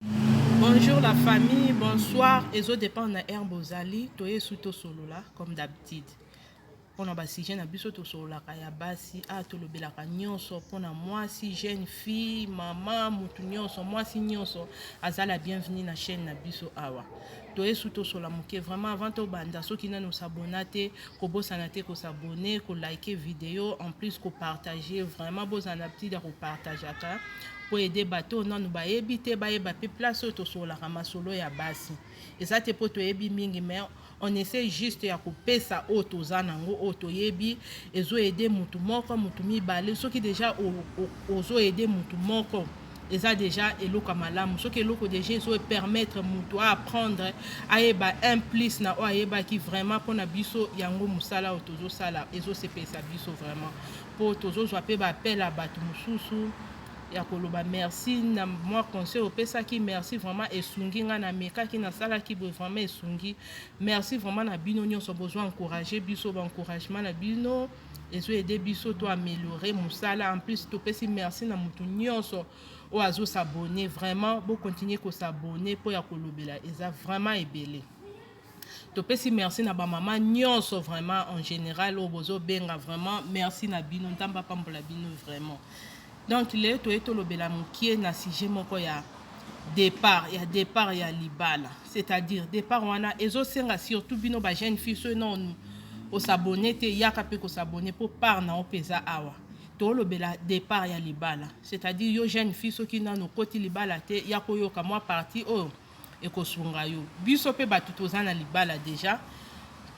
Bonjour la famille, bonsoir. Ezo dépendre na heure bozali, toye su to solola comme d'habitude. Pona ba sujet na biso to sololaka ya basi, a ah, to lobelaka nyonso pona mwasi, jeune fille, maman, mutu nyonso, mwasi nyonso azala bienvenue na chaîne na biso awa. toye su tosola moke vraiment avant tobanda soki nani osabona te kobosana te kosabone kolike video en plus kopartage vraiment bozala na habitude ya kopartageaka mpo ede bato oyo nanu bayebi te bayeba mpe place oyo tosololaka masolo ya basi eza te mpo toyebi mingi mais on essaie juste ya kopesa oyo toza nango oyo toyebi ezoede motu moko motu mibale soki deja ozoede motu moko eza deja eloko ya malamu soki eloko deja ezo permettre moto aapprendre ayeba un plus na oyo ayebaki vraiment mpo na biso yango mosala oyo tozosala ezosepelisa biso vraiment mpo tozozwa mpe baapel ya bato mosusu ya koloba merci na mwa conseil opesaki merci vraiment esungi ngai namekaki nasalaki boye vraiment esungi merci vraiment na bino nyonso bozwa encourage biso baencouragement na bino ezo aide biso to améliorer musala en plus topesi merci na mutu nyonso oyo azo s'abonner vraiment bo continuer ko s'abonner mpo ya kolobela eza vraiment ebele topesi merci na bamama nyonso vraiment en général oyo bozobenga vraiment merci na bino nzambe apambola bino vraiment Donc lelo toye tolobela mokie na sujet moko ya départ ya départ ya libala c'est-à-dire départ wana ezosenga surtout bino ba jeune fille soki no osabone te yaka mpe kosabone mpo part na yo mpe eza awa tolobela départ ya libala c'est-à-dire yo jeune fille soki nano okoti libala te ya koyoka mwa parti oyo ekosunga yo biso mpe bato toza na libala déjà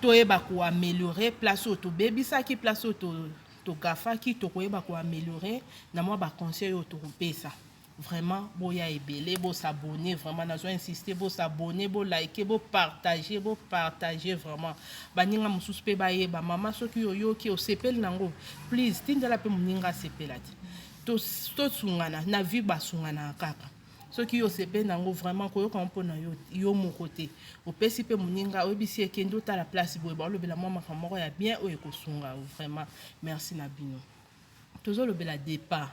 toyeba koameliore place oyo tobebisaki place oyo To gaffaki toko yeba ko ameliorer na mwa ba conseils oyo toko pesa. Vraiment boya ebele bo s'abonner vraiment nazo insister bo s'abonner bo liker bo partager bo partager vraiment baninga mususu pe bayeba mama soki oyoki osepeli nango please tindela pe muninga asepela ti to to sungana na vie basunganaka kaka soki yo osepeli na yango vraiment koyoka yango mpo na yo yo moko te opesi mpe moninga oyebisi ye kende otala place boye baolobela mwa makambo moko ya bien oyo ekosunga yo vraiment merci na bino tozolobela départ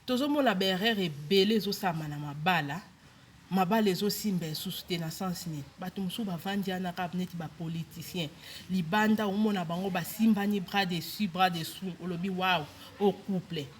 tozomona baerreur ebele ezosalama na mabala mabala ezosimba esusu te na sens nini bato mosusu bavandi wana kaka neti bapoliticien libanda omona bango basimbani bras dessus bras dessous olobi waw o couple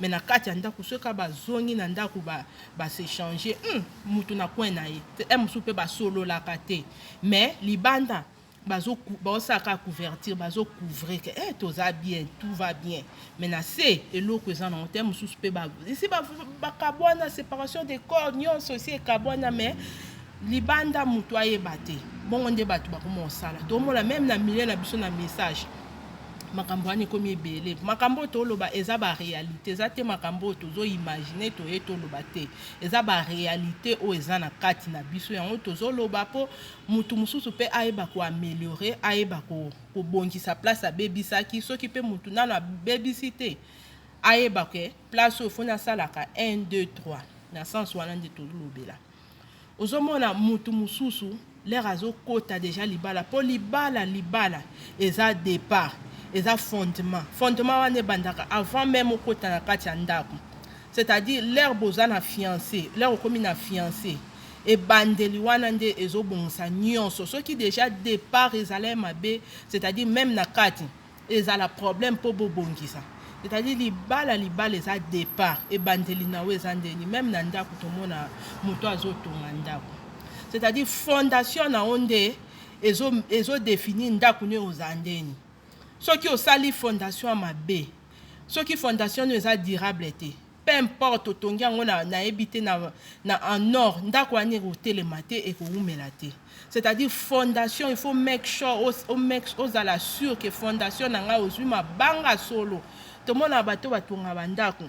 mais na kati ya ndako soki kaka bazongi na ndako basechange ba hmm, motu na coin na ye e mosusu mpe basololaka te mais libanda bazosala kaka couverture bazocouvre ke e toza bien tout va bien mais na se eloko eza nango te mosusu mpe esi bakabwana ba separation de corps nyonso esi ekabwana mais libanda mutu ayeba te bongo nde bato bakoma kosala tomona meme na milieu na biso na message makambo wana ekomi ebele makambo oyo toloba eza barealité eza te makambo oyo tozoimagine toye toloba te eza barealité oyo eza na kati na biso yango tozoloba mpo motu mosusu mpe ayeba koameliore ayeba kobongisa place abebisaki soki mpe motu nano abebisi te ayeba ke place oyo foni asalaka 1 2 3 na sense wana nde tolobela ozomona mutu mususu lere azokota deja libala mpo libala libala eza depart eza fondement fondement wana ebandaka avant meme okota na kati ya ndako c'est-à-dire lere boza na fiance lere okomi na fiance ebandeli wana nde ezobongisa nyonso soki deja depart ezalai mabe c'est-à-dire meme na kati Ezala problème po bo bongisa. C'est à dire libala libala eza depart ebandeli na yo eza ndeni meme na ndaku tomona mutu azo tonga ndaku c'est à dire fondation na yo nde ezo ezo definir ndaku ne oza ndeni soki osali fondation mabe soki fondation no eza durable te peu importe otongi yango na nayebi te na, na en or ndako wana ekotelema te ekowumela te c'est-à-dire fondation il faut make sure o, o make, ozala sur que fondation na ngai ozwi mabanga solo tomona bato batonga bandako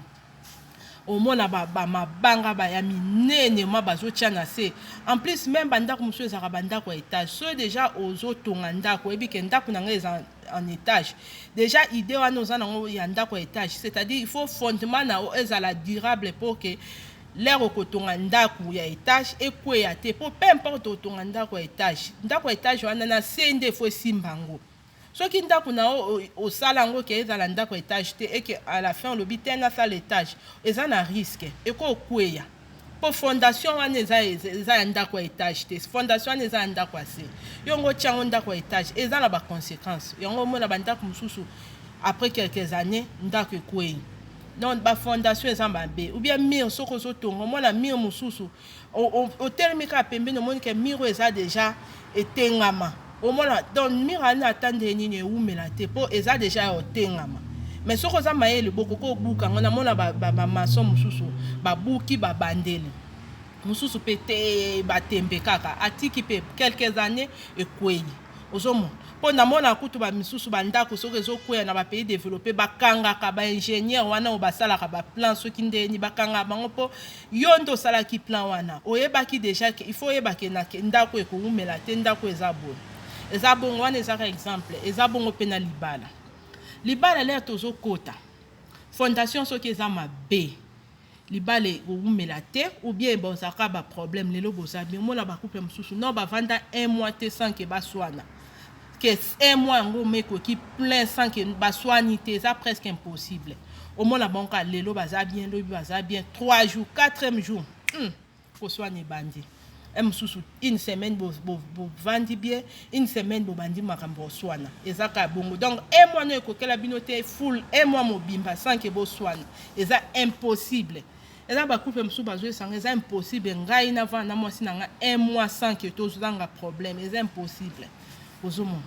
omona bamabanga ba, ba ya minene ma bazotya na se en plus meme bandako mosusu ezalaka bandako ya etage soki deja ozotonga ndako oyebi ke ndako na ngai eza en étage déjà idée wana oza nango ya ndako ya étage c'est-à-dire il faut fondement na yo ezala durable mpo ke lere okotonga ndako ya étage ekweya te mpo peu importe otonga ndako ya étage ndako ya étage wana na se nde faut esimba yango soki ndako na yo osala yango ke ezala ndako ya étage te eke à la fin olobi te nasala étage eza na risque ekokweya Po fondation wana eza eza ya ndaku ya etage te fondation wana eza ya ndaku ya se yo ngo tia ngo ndaku ya etage eza na ba consequence yango omona ba ndaku mususu après quelques années ndaku ekweyi donc ba fondation eza mabe ou bien mur soko ozo tonga omona mur mususu otelemi kaka pembeni omoni ke mur eza deja etengama omona donc mira wana ata ndenge nini ewumela te mpo eza deja ya otengama mais soki oza mayele bokoki obuka yango namona bamaso ba, ba mosusu babuki babandeli mosusu mpe te batembe kaka atiki mpe quelques années ekwei ozomona mpo namona kutu bamisusu bandako soki ezokweya na bapays développe bakangaka baingénieur wana oyo basalaka baplan soki ndeni bakangaka bango mpo Yo nde osalaki plan wana, oyebaki deja ke il faut oyeba ke na ke ndako ekowumela te, ndako eza boye eza bongo. Wana eza ka exemple, eza bongo pe na libala. Libala lea tozokota fondation soki eza mabe libala ekowumela te ou bien bozalaka ba problème lelo boza bien omona ba couple mosusu non bavanda un mois te sans ke baswana que un mois yango meko ki plein sans que baswani te eza presque impossible omona bango kaka lelo baza bien lobi baza bien 3 jours 4e jour hmm. koswana ebandi e mosusu une semaine bovandi bien une semaine bobandi makambo oswana eza kaka bongo donc e mwana oyo ekokela bino te full e mwa mobimba sans ke boswana eza impossible Eza ba couple mususu bazo esanga eza impossible ngai na vana na mwasi na nga un mois sans que tozanga problème eza impossible ozomona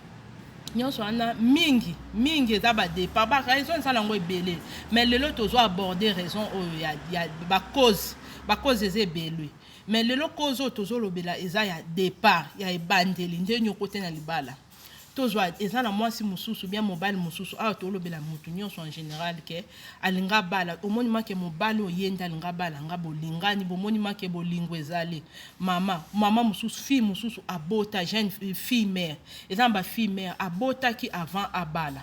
nyonso wana mingi mingi eza badepa baraison eza nango ebele mais lelo tozo aborde raison oyo ya, ya bacause bacause eza ebele mais lelo cause oyo tozolobela eza ya départ ya ebandeli nde nyoko te na libala tozwa eza na mwasi mosusu bien mobali mosusu awa tolobela motu nyonso en général ke alinga abala omoni make mobali oyo ye nde alinga abala nga bolingani bomoni make bolingo ezali mama mama mosusu fille mosusu abota jeune fille mère eza na bafille mère abotaki avant abala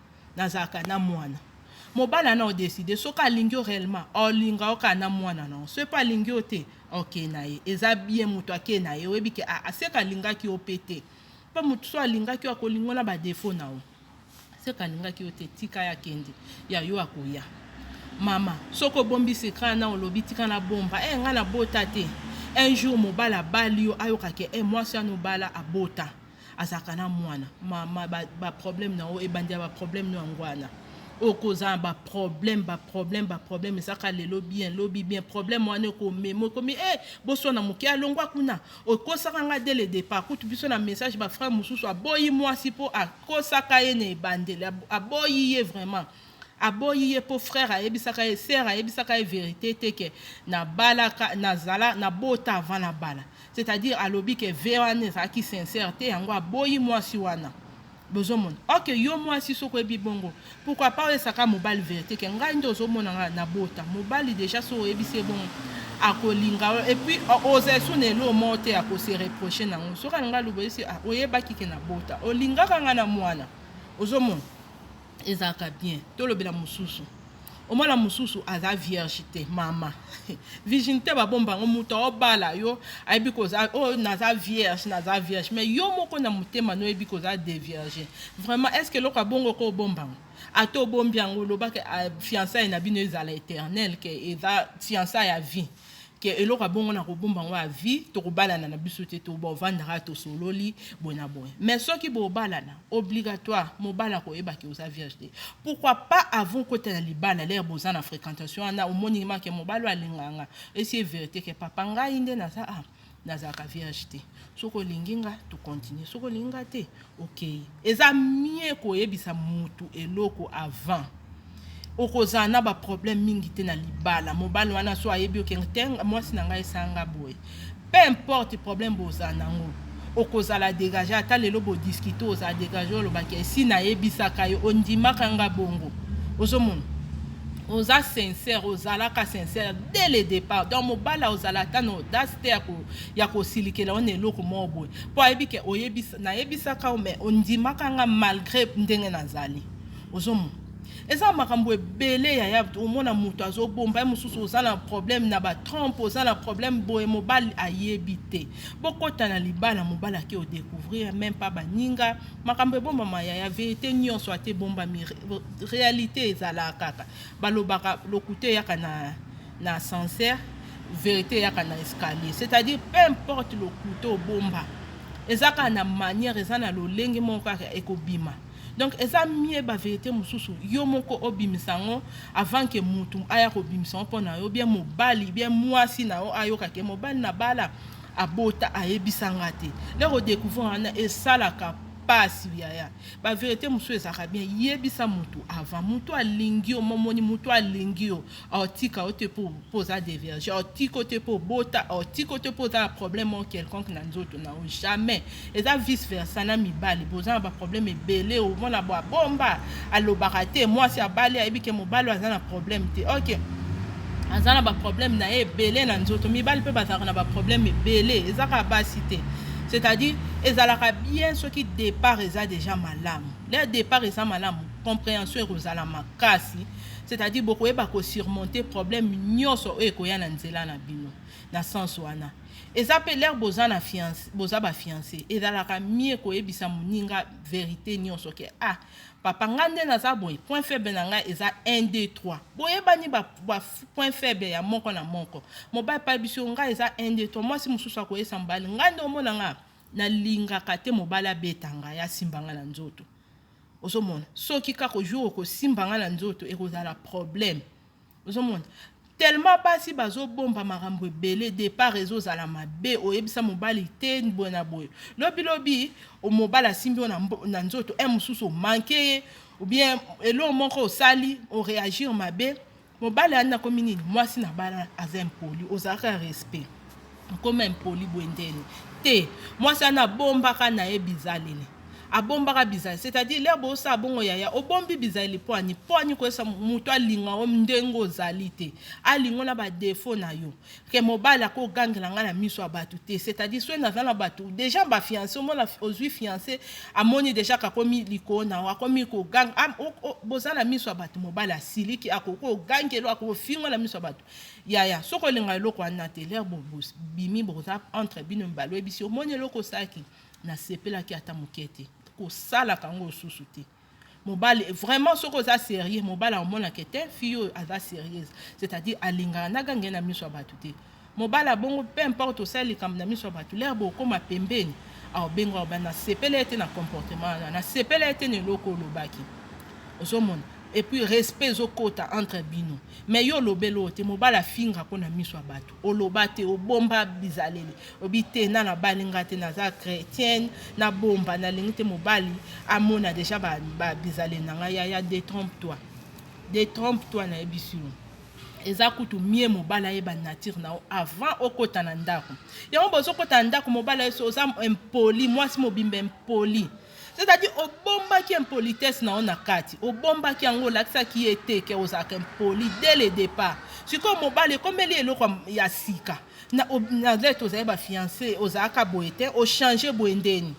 nazalaka na mwana mobala na odeside soki alingi yo réellement olinga yo kaka na mwana na yo soki mpe alingi yo te okei na ye eza bien moto akei na ye oyebi ke ah, aseka alingaki yo mpe te mpe moto so alingaki yo akolingo na badefo na yo seka alingaki yo te tika ya kende ya yo akoya mama soki obombi sekra na olobi tika na bomba e eh, hey, ngai nabota te un jour mobala abali yo ayokake e eh, hey, mwasi anobala abota azalaka na mwana mama baproblème ba na yo ebandi ya baproblème no yango wana okozala na baproblème baproblème baproblème ezaka lelo bien lobi bien problème wana ekomema ekomi e eh, boswana moke alongwa kuna okosaka ngai de le départ kutu biso na message bafrère mosusu aboyi mwasi mpo akosaka ye na ebandeli aboyi ye vraiment Aboyi ye po frère ayebisaka ye sœur ayebisaka ye verite te ke na balaka na zala na bota avant na bala c'est à dire alobi ke vie wana ezalaki sincère te yango aboyi mwasi wana bozomona ok yo mwasi soki oyebi bongo pourquoi pas oyesaka mobali verite ke ngai nde ozomona nga na bota mobali déjà soki oyebisi ye bongo akolinga yo et puis ozali so na eloo moko te akose reproche nango soki alinga lobo yesi ah, oyebaki ke na bota olingaka nga na mwana ozomona ezalaka bien tolobela mosusu omwana mosusu aza vierge te mama vigine te babomba yango moto aobala yo ayebi koza oyo oh, naza vierge naza vierge mais yo moko na motema no oyebi koza devierge vraiment est ce que eloko abongo ko obomba yango ata obombi yango olobaka ah, fiançaille na bino ezala éternel ke eza fiançaille ya vie ke eloko ya bongo nakobomba yango ya vie tokobalana na biso te tobovandaka tosololi boye na boye mais soki bobalana obligatoire mobala koyeba ke oza vierge te pourquoi pas avant kota na libala lere boza na fréquentation wana omoni make mobala alinganga esi e verite ke papa ngai nde naza ah, nazalaka vierge te soki olingi nga tocontinue soki olingi nga te Okeyi eza mieux koyebisa mutu eloko avant okozala na ba problème mingi te na libala mobali wana so ayebi oke te mwasi na ngai esala nga boye peu importe problème bozala nango okozala degage ata lelo bodiscute ozala degage olobaki esi nayebisaka yo ondimaka nga bongo ozomona oza sincère ozalaka sincère dès le départ donc mobala ozala ata na audace te ya ko ya kosilikela yo na eloko moko boye mpo ayebi ke oyebisa nayebisaka yo mais ondimaka nga malgre ndenge nazali ozomo eza makambo ebele yaya omona moto azobomba ye mosusu oza na problème na batrompe oza na problème boye mobali ayebi te bokota na libala mobali ake odecouvrir meme pa baninga makambo ebombama yaya verité nyonso ate ebombami réalité ezalaka kaka balobaka lokute eyaka na na ascenseur verite eyaka na escalier c'est à dire peu importe lokuta obomba eza kaka na manière eza na lolenge moko kaka ekobima donc eza mie baverite mosusu yo moko obimisa yango avant ke mutu aya kobimisa yango mpo na yo bie mobali bie mwasi na yo ayokake mobali na bala abota ayebisa nga te nde kodecouvrir wana esalaka pasi yaya baverite mosusu ezalaka bien yebisa mutu avant mutu alingi yo momoni mutu alingi yo aotika yo te mpo oza deverge aotika yo te mpo obota aotika yo te mpo oza na problème moko quelconque na nzoto na yo jamais eza vice versa na mibali boza na baproblème ebele omona bo abomba alobaka te mwasi abali ayebi ke mobali aza na problème te ok aza na baproblème na ye ebele na nzoto mibali mpe bazalaka na baproblème ebele eza kaka basi te c'est-à-dire ezalaka bien soki départ eza déjà malamu le départ eza malamu comprehension ekozala makasi c'est-à-dire bokoyeba ko surmonter problème nyonso oyo ekoya na nzela na bino na sens wana eza mpe lere boza na fiance boza bafiance ezalaka mie koyebisa moninga verité nyonso ke ah papa nga nde naza boye point faible na ngai eza 1 2 3 boyebani ba, ba point faible ya moko na moko mobali pa biso ngai eza 1 2 3 mwasi mosusu akoyesa mobali ngai nde omona nga nalingaka te mobali abeta ngai asimba ngai na nzoto ozomona soki kaka jour okosimba nga na nzoto ekozala problème ozomona tellement basi bazobomba makambo ebele départ ezozala mabe oyebisa mobali te boye na boye lobi lobi mobali asimbi yo na nzoto e mosusu omanke ye ou bien eloko moko osali oreagir mabe Mobali andi nakomi nini? Mwasi na bana aza impoli, ozalaka respect nkoma impoli bwendeni te. Mwasi ana abombaka na ye bizaleli abombaka bizali c'est-à-dire lere bosala bongo yaya obombi bizali pwani pwani koyesa moto alinga yo ndenge ozali te alingo na badefo na yo que mobali ako gangela nga na miso ya batu te c'est à dire soki naza na batu déjà ba fiancé omona ozui fiancé amoni déjà kakomi likolo na akomi koganga ah, oh, oh, boza na miso ya batu mobali asiliki akoki kogangelo akofingo na miso ya batu yaya soki olinga eloko wana te lere bobimi boza entre bino mibale oyebisi omoni eloko osalaki nasepelaki ata moke te kosalaka yango osusu te mobali vraiment soki oza serieux mobali akomona ke te fille oyo aza serieuse c'est-à-dire alingaka na gange na miso ya bato te mobali abongo peu importe osali likambo na miso ya bato lere bokoma pembeni aobenga oba nasepela ete na comportement wana nasepela ete na eloko olobaki ozomona epuis respect ezokota entre bino mais yo olobeli oyo te mobali afinga mpo na miso ya bato oloba te obomba bizaleli obi te na nabali nga te naza chretienne nabomba nalingi te mobali amona deja ba, ba bizaleli na ngai yaya detrompe toi detrompe toi nayebisi yo eza kutu mie mobali ayeba nature na yo avant okota na ndako yango bozokota na ndako mobali ayeso oza impoli mwasi mobimba impoli C'est-à-dire obombaki impolitesse na yo na kati, obombaki yango, olakisaki ye te ke ozalaka impoli dès le départ. Sikoyo mobali ekomeli eloko ya sika na nalete ozali bafiance, ozalaka boye te, ochange boye ndeni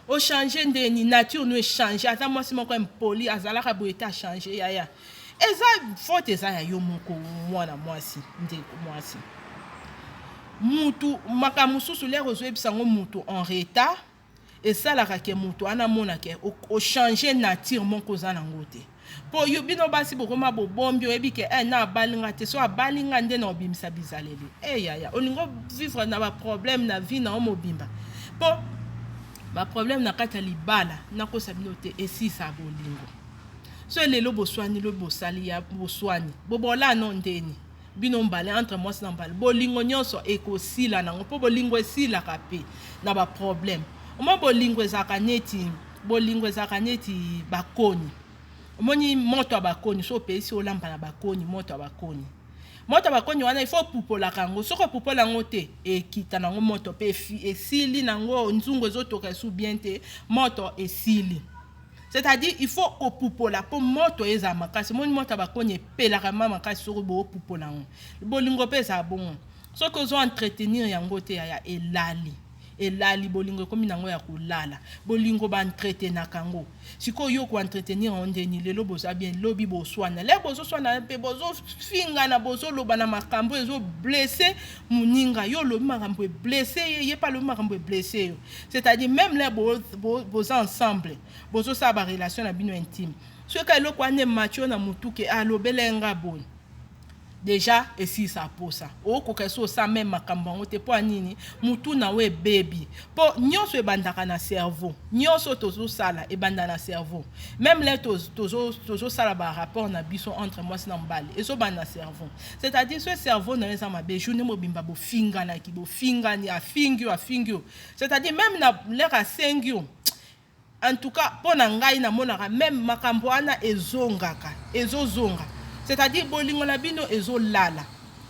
ochange ndeni, nature no echange. Aza mwasi moko impoli, azalaka boye te, achange yaya. Eza faute eza ya yo moko, mwana mwasi, ndeko mwasi, mutu makambo mosusu lere ozoyebisa yango mutu en retard esalaka ke moto wana amona ke ochange nature moko oza nango te mpo yo bino basi bokoma bobombi oyebi ke eh, na abali nga te so abali nga nde na obimisa bizaleli e eh, yaya olingi ovivre na baproblème na vie na yo mobimba mpo baproblème na kati ya libala nakosa bino te esisa bolingo so lelo boswani lo bosali ya boswani bobolano ndeni bino mbale entre mwasi na mbale bolingo nyonso ekosila nango mpo bolingo esilaka mpe na baproblème oma bolingo ezalaka neti bolingo ezalaka neti bakoni omoni moto ya bakoni so opesi olamba na bakoni moto ya bakoni moto ya bakoni wana ifo opupolaka yango soki opupola yango te ekita nango moto mpe esili nango nzungu ezotoka esu bien te moto esili C'est-à-dire il faut kopupola mpo moto ezala makasi. Moni moto ya bakoni epelaka ma makasi soki bopupola yango. Bolingo mpe ezala bongo. Soki ozo entretenir yango te yaya elali. Elali bolingo ekomi nango ya kolala. Bolingo ba entretenaka yango. Sikoyo yo ko entretenir yango ndeni lelo boza bien lobi boswana. Lelo bozo swana mpe bozo fingana bozo loba na makambo ezo blesser muninga. Yo lobi makambo e blesser ye, ye pa lobi makambo e blesser yo. C'est-à-dire meme là boza ensemble, bozo sala ba relation na bino intime. Soki ka eloko ane macho na mutu ke alobela ah, nga boye. Déjà esilisa posa. Okoka esi osa meme makambo yango te mpo ya nini mutu na yo ebebi mpo nyonso ebandaka na cerveau nyonso tozosala ebanda na cerveau meme le tozosala tozo ba rapport na biso entre mwasi na mobali ezobanda na cerveau c'est à dire ce cerveau na yo eza mabe journée mobimba bofinganaki bofingani afingi yo afingi yo c'est à dire même na lere asengi yo en tout cas mpo na ngai namonaka meme makambo wana ezongaka ezozonga c'est à dire bolingo na bino ezolala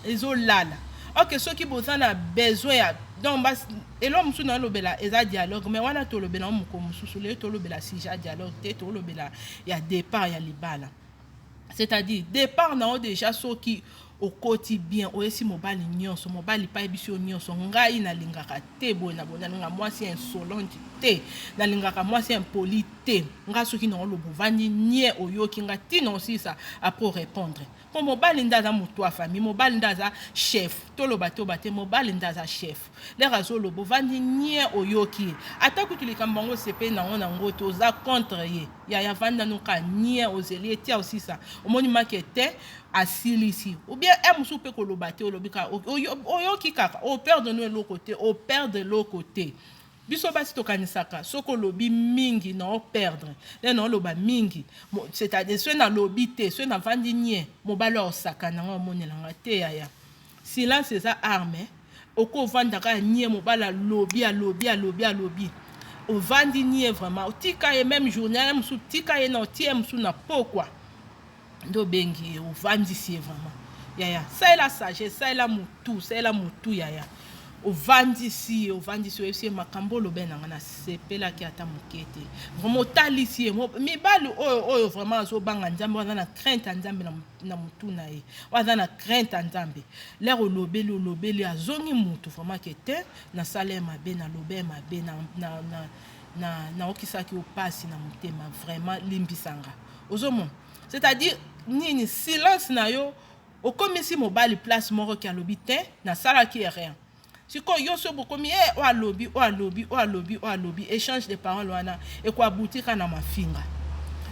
ezolala ok soki boza na besoin ya donc eloko mosusu nalobela eza dialogue mais wana tolobela yango mokolo mosusu lelo tolobela sujet ya dialogue te tolobela ya départ ya libala c'est-à-dire départ na yo déjà soki okoti bien oyesi mobali nyonso mobali mpe ayebisi yo nyonso ngai nalingaka te boye na boye nalingaka mwasi ya insolente te nalingaka mwasi ya impoli te ngai soki na oloba ovandi nie oyoki ngai ntina osilisa apres orépondre mpo mobali nde aza motu ya famille mobali nde aza chef toloba toba te mobali nde aza chef Lere azoloba ovandi nie oyoki ye ata kutu likambo yango osepeli nango na ngoto oza contre ye yaya vanda noka nie ozeli ye tia osisa omoni make te asilisi ubien e mosusu mpe koloba te olobi kaka oyoki kaka operde no eloko te operde eloko te biso basi tokanisaka soki olobi mingi na operdre le na oloba mingi c'est-à-dire soki nalobi te soki navandi nie mobali osakana ngai omonela ngai te yaya Silence eza arme oko vanda ka nie mobali alobi alobi alobi alobi ovandi nie vraiment otika ye meme journée ya mosusu tika ye na otie mosusu na pokwa nde obengi ye ovandisi ye vraiment yaya salela sagesse salela motu salela motu yaya ovandisi ye ovandisi oyebisi ye makambo olobe na ngai nasepelaki ata moke te vraiment otalisi ye mibali oyo oyo vraiment azobanga nzambe wana na crainte ya nzambe na na mutu na ye oyo aza na crainte ya nzambe lere olobeli olobeli azongi mutu vraiment ke te nasala ye mabe naloba ye mabe na, na, na, na, naokisaki yo pasi na motema vraiment limbisanga ozomona c'est-à-dire nini silence na yo okomisi mobali place moko ke alobi te nasalaki ye rien Sikoyo yo soki bokomi e eh, oyo alobi oyo alobi oyo alobi oyo alobi echange de parole wana ekoabutika na mafinga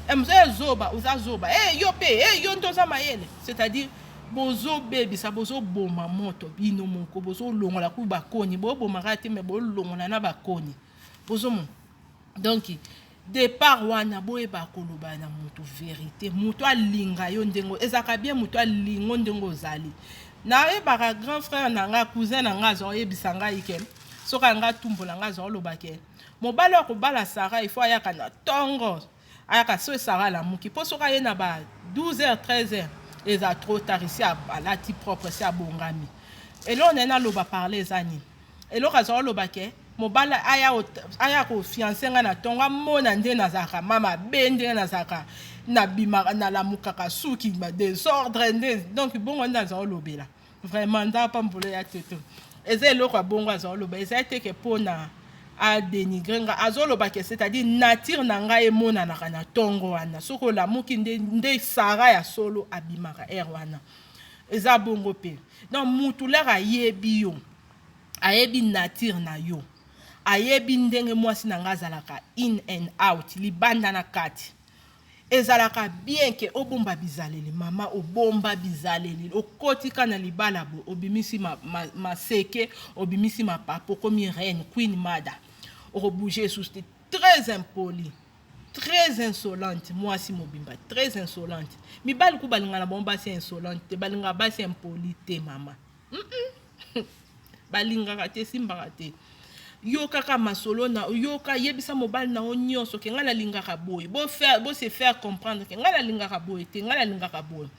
eh, mzee eh, zoba oza zoba e yo mpe e yo nde oza mayele c'est-à-dire bozobebisa bozoboma moto bino moko bozolongola ku bakoni bobomaka te me bolongola na bakoni bozomona donc Depart wana boyeba koloba na mutu verite, mutu alinga yo ndenge ezalaka bien, mutu alingo ndenge ozali. Nayebaka grand frère na nga cousin na nga azwa oyebisa ngai ke soki anga tumbola nga azwa oloba ke mobali wa kobala Sarah il faut ayaka na tongo ayaka soki Sarah alamuki mpo soki aye na ba 12 heures 13 heures eza trop tard esi alati propre esi abongami eloo naye naloba parle eza nini Eloko aza oloba ke mobali aya aya ko fiancer nga na tonga mona nde nazalaka mama be nde nazalaka na bima na lamukaka suki ba desordre nde donc bongo nde aza olobela vraiment nda pa mbolo ya toto eza eloko ya bongo aza oloba eza te ke pona a dénigrer nga azoloba ke c'est-à-dire nature na ngai emonanaka na tongo wana soki olamuki nde nde sara ya solo abimaka ere wana eza bongo mpe donc mutu lere ayebi yo Ayebi nature na yo. Ayebi ndenge mwasi na nga azalaka in and out, libanda na kati. Ezalaka bien ke obomba bizaleli mama, obomba bizaleli. Okoti ka na libala bo, obimisi ma, ma, maseke, obimisi mapapa, okomi reine, queen mada. Oko bouger esusu te. Très impoli. Très insolente, mwasi mobimba, très insolente. Mibali ku balinga na bango basi insolente te, balinga basi impoli te mama. balingaka te esimbaka te yokaka masolo na yoka yebisa mobali na yo nyonso ke ngai nalingaka boye bose faire comprendre ke ngai nalingaka boye te ngai nalingaka boye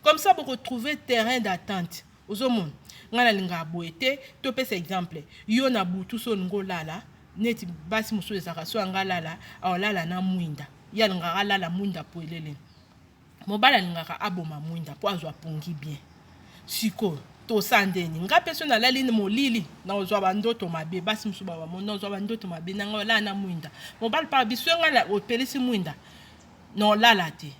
comme ça bokotrouve terrain d'attente ozomona ngai nalingaka boye te topesa exemple yo na butu so olingi olala neti basi mosusu ezalaka so yanga alala aolala na mwinda ye alingaka alala mwinda poelele Mobali alingaka aboma mwinda mpo azwa pongi bien. Sikoyo tosa ndeni nga mpe so nalali na molili naozwa bandoto mabe basi mosusu babamo naozwa bandoto mabe na ngai olala na mwinda mobali mpa biso ngai opelisi mwinda naolala te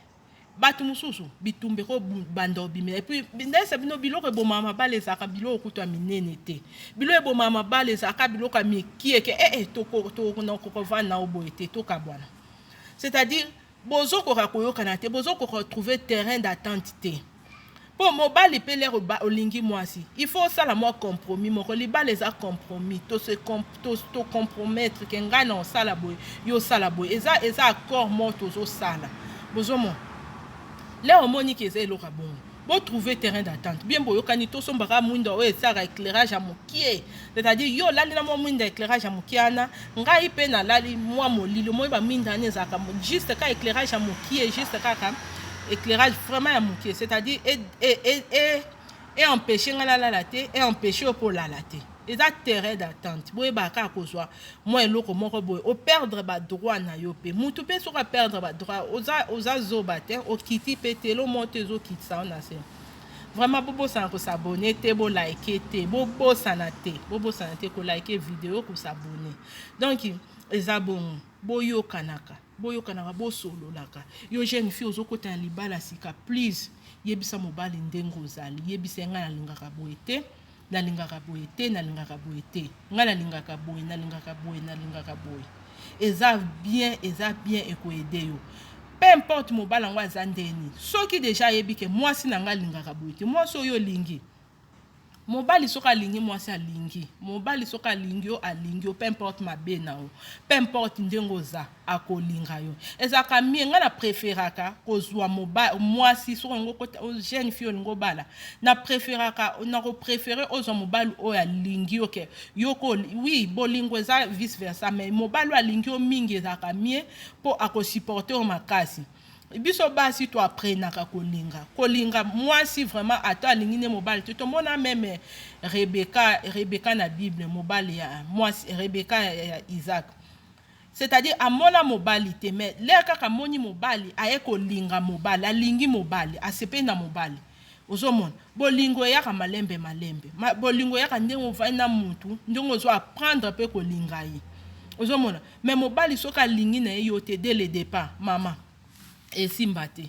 bato mosusu bitumba ekobanda obimela epuis ndayesa bino biloko ebomaka mabala ezalaka biloko kutu ya minene te biloko ebomaka mabala ezalaka biloko ya mikieke ee eh, eh, tokokokovanda na oboye te tokabwana c'est-à-dire Bozokoka koyokana te, bozo ko retrouver terrain d'attente te. Po mobali pe lere olingi mwasi, il faut osala mwa compromis moko. Libala eza compromis, to se to to compromettre ke ngai na osala boye, yo osala boye. Eza eza accord moko tozosala. Bozomona? Lere omoni ke eza eloko ya bongo. Bo trouver terrain d'attente bien boyokani tosomba kaka mwinda oyo esalaka eclairage ya mokie c'est-à-dire yo olali na mwa mwinda eclairage ya mokie wana ngai mpe nalali mwa molili omoi bamwinda wana ezalaka juste kaka eclairage ya mokie juste kaka éclairage vraiment ya moke c'est-à-dire eempêche ngai nalala te eempêche yo mpe olala te eza terrain d'attente boyebaka kaka kozwa mwa eloko moko boye operdre badroit na yo mpe mutu mpe soki aperdre badroit oza, oza zoba te okiti mpe te elo moto ezokitisa yo na se vraiment bobosana kosabone te bolike te bobosana te bobosana te kolike video kosabone donc eza bongo boyokanaka boyokanaka bosololaka yo jeune fille ozokota na libala sika please yebisa mobali ndenge ozali yebisa ye ngai nalingaka boye te nalingaka boye te nalingaka boye te ngai nalingaka boye nalingaka boye nalingaka boye eza bien eza bien ekoede yo peu importe mobali yango aza ndeni soki deja ayebi ke mwasi na ngai alingaka boye te mwasi oyo olingi mobali soki alingi mwasi alingi mobali soki alingi yo alingi yo peu importe mabe na yo peu importe ndenge oza akolinga yo ezalaka mie ngai na preferaka kozwa mwasi soki olingi okota jeune fille olingi obala na preferaka na koprefere ozwa mobali oyo alingi yo ke yoko wi bolingo eza vice versa mai mobali oyo alingi yo mingi ezalaka mie mpo akosupporte yo makasi biso basi to aprenaka kolinga kolinga mwasi vraiment ata alingi nde mobali te tomona meme rebeka rebeka na bible mobali ya mwasi rebeka ya, ya isaac C'est à dire amona mobali te mais l'heure kaka amoni mobali aye kolinga mobali alingi mobali asepeli na mobali ozomona bolingo eyaka malembe malembe Ma, bolingo eyaka ndenge ovandi na mutu ndenge ozo apprendre pe kolinga ye ozomona mais mobali soki alingi na ye yo te dès le départ mama esimba te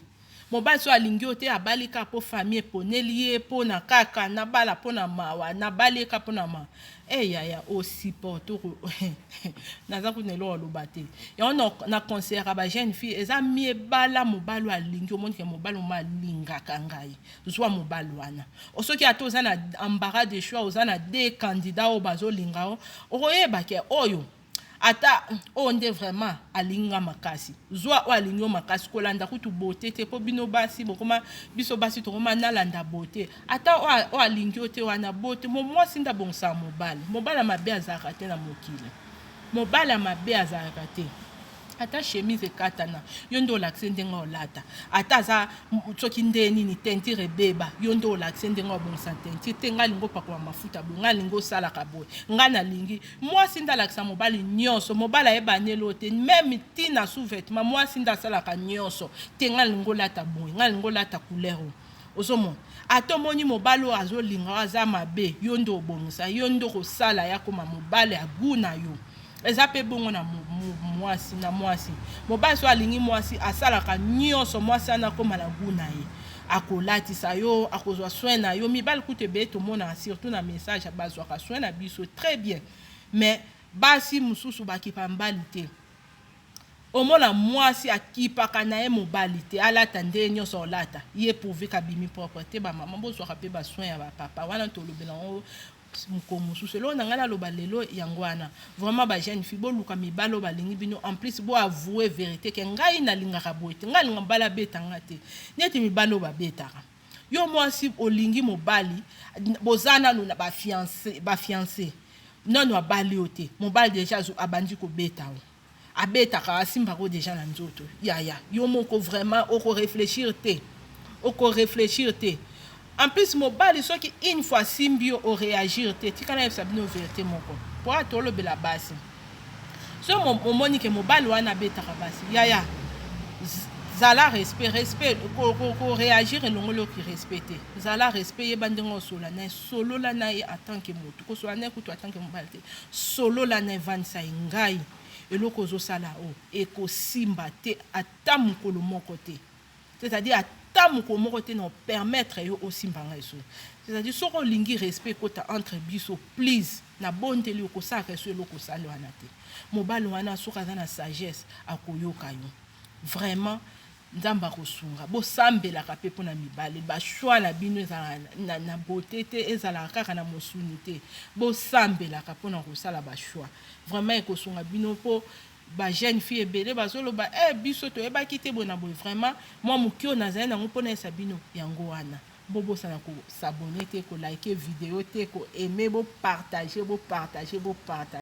mobali so alingi yo te abali kaka mpo famille eponeli ye mpo na kaka nabala mpo na mawa nabali ye kaka mpo na mawa e eh, yaya osiporte naza kuna eloko aloba te yango na conseillaka ba jeune fille eza mie bala mobali alingi omonike mobali moma alingaka ngai zwa mobali wana soki ata oza na embarras de choix oza na de candidat oyo bazolinga yo okoyebake oyo Ata oyo nde vraiment alingi nga makasi. Zua oyo alingi yo makasi kolanda kutu beaute te po bino basi bokoma biso basi tokoma nalanda beaute. Ata oyo alingi yo te wana beaute mo mwasi nda bongisaka mobali. Mobali ya mabe azalaka te na mokili. Mobali ya mabe azalaka te. ata chemise ekatana yo nde olakise ndenge olata ata aza soki nde nini tentire ebeba yo nde olakise ndenge obongisa tentire te ngai lingi opakola mafuta boye ngai lingi osalaka boye ngai nalingi mwasi nde alakisa mobali nyonso mobali ayeba neli oyo te meme ntina sous vêtement mwasi nde asalaka nyonso te ngai lingi olata boye ngai lingi olata couleur oyo ozomona ata omoni mobali oyo azolinga oyo aza mabe yo nde obongisa yo nde okosala ye akoma mobali ya gu na yo eza mpe bongo na mwasi na mwasi mobali so alingi mwasi asalaka nyonso mwasi wana akoma na gu na ye akolatisa yo akozwa soin na yo mibali kutu ebele tomonaka surtout na message bazwaka soin na biso très bien mais basi mosusu bakipa mbali te Omona muasi akipaka naye mobali te alata ndenge nionso akolata ye pourvu qu'abimi propre te ba maman bozuaka pe ba soins ya ba papa wana tolobela yango mokolo mosusu eloko na ngai naloba lelo yango wana vraiment ba jeune fille boluka mibali oyo balingi bino en plus bo avoue verite ke ngai nalingaka boye te ngai nalinga mobali abeta ngai te neti mibali oyo babetaka Yo mwasi olingi mobali boza nanu na ba fiance ba fiance nanu abali yo te mobali deja abandi kobeta yo abetaka asimbaka yo deja na nzoto yaya yo moko vraiment oko reflechir te oko reflechir te en plus mobali soki une fois asimbi yo o reagir te tika nayebisa bino verite moko po atolobela basi Soki omoni ke mobali wana abetaka basi, yaya zala respect, respect ko reagir elongoli yo ki respect te. Zala respect, yeba ndenge osola naye, solola naye en tant que mutu, ko solola naye kutu en tant que mobali te. Solola naye, vandisa ye, ngai eloko ozo sala oyo ekosimba te ata mukolo moko te. C'est-à-dire ata mokolo moko te na permettre yo osimba ngai so. C'est-à-dire soki olingi respect ekota entre biso please na bondeli yo kosalaka esu eloko osali wana te. Mobali wana soki aza na sagesse akoyoka yo. Vraiment nzambe akosunga bosambelaka mpe mpo na mibali bashwa na bino ezalaka na, na bote te ezalaka kaka na mosuni te bosambelaka mpo na kosala bashwa vraiment ekosunga bino mpo Ba jeune fille ebele bazo loba eh biso toyebaki te boye na boye vraiment mwa moke oyo nazali nango mpo nayesa bino yango wana bobosana ko s'abonner te ko liker video te ko aimer bo partager bo partager bo partager